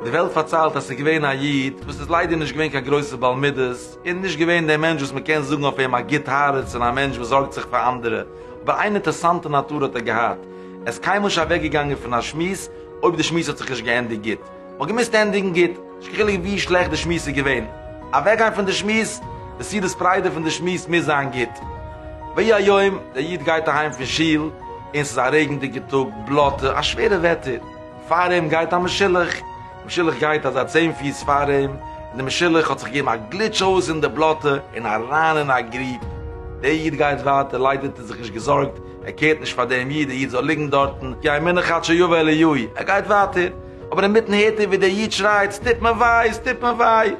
די וועלט פארציילט אז ס'איז געווען א איד וואס איז ליידער נישט געווען קיין גרויסע בעל מידות און נישט געווען דער מענטש וואס מ'קען זאגן אויף אים א גוט הארץ און א מענטש וואס זארגט זיך פאר אנדערע, אבער איין אינטערעסאנטע נאטור האט ער געהאט, ער איז קיינמאל נישט אוועקגעגאנגען פון א שמועס אויב די שמועס האט זיך נישט געענדיגט גוט. מ'האט געמוזט ענדיגן גוט, נישט קיין חילוק ווי שלעכט די שמועס איז געווען. אוועקגיין פון די שמועס, די סעודת פריידא פון די שמועס מוז זיין גוט. ויהי היום, דער איד גייט אהיים פון שול, און ס'איז א רעגנדיגער טאג, בלאטע, א שווערע וועטער. פאר אים גייט א משולח. די משולח גייט אזא צען פיס פאר אים, און די משולח האט זיך געגעבן א גליטש אויס אין די בלאטע און אריין אין א גריב. דער איד גייט ווייטער, ליידער האט ער זיך נישט געזארגט, ער קערט נישט פאר דעם איד, דער איד זאל ליגן דארטן, כי ימינו חד שיבא אל עילוי, ער גייט ווייטער, אבער אינמיטן הערט ער ווי דער איד שרייט, עס טוט מיר וויי, עס טוט מיר וויי,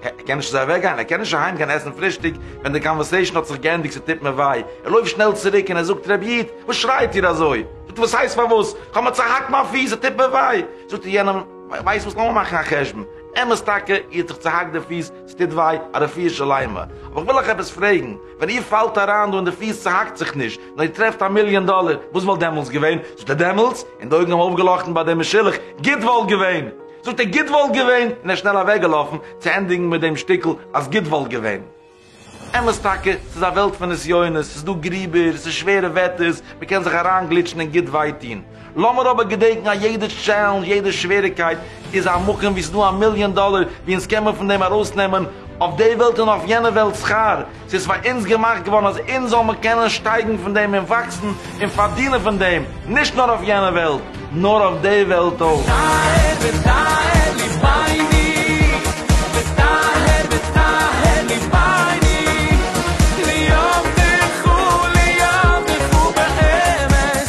ער קען נישט אזוי אוועק גיין, ער קען נישט אהיים גיין עסן פרישטאג ווען די קאנווערסעישאן האט זיך געענדיגט, עס טוט מיר וויי, ער לויפט שנעל צוריק און ער זאגט, רבי איד, וואס שרייט איר אזוי? זאגט ער, וואס הייסט פארוואס? איך האב מיר צעהאקט מיין פיס, עס טוט מיר וויי, זאגט ער יענעם, ווייסט וואס לאמיר מאכן א חשבון, אמת טאקע, איר האט זיך צעהאקט די פיס, עס טוט וויי, א רפואה שלימה, אבער איך וויל אייך עפעס פרעגן, ווען איר פאלט אריין דא און די פיס צוהאקט זיך נישט, נאר איר טרעפט א מיליאן דאלער, וואס וואלט דעמאלטס געווען? זאגט ער דעמאלטס, און די אויגן האבן אויפגעלאכטן ביי דעם משולח, גוט וואלט געווען! זאגט ער גוט וואלט געווען! און ער איז שנעל אוועקגעלאפן, צו ענדיגן מיט דעם שטיקל אז גוט וואלט געווען. אמת טאקע, ס'איז א וועלט פון נסיונות, ס'איז דא גריבער, ס'איז שווערע וועטערס, מ'קען זיך אריינגליטשן און גוט וויי טון. לאמיר אבער געדענקן אז יעדע טשעלענדזש, יעדע שוועריגקייט, איז א מקום וואו ס'איז דא א מיליאן דאלער, ווי אונז קען מיר פון דעם ארויסנעמען אויף די וועלט און אויף יענע וועלט שכר. ס'איז פאר אונז געמאכט געווארן אז אונז זאל מיר קענען שטייגן פון דעם און וואקסן און פארדינען פון דעם, נישט נאר אויף יענע וועלט, נאר אויף די וועלט אויך. טאהר וטהר ליבייני וטהר וטהר ליבייני ליאוותך ליאוותך באמת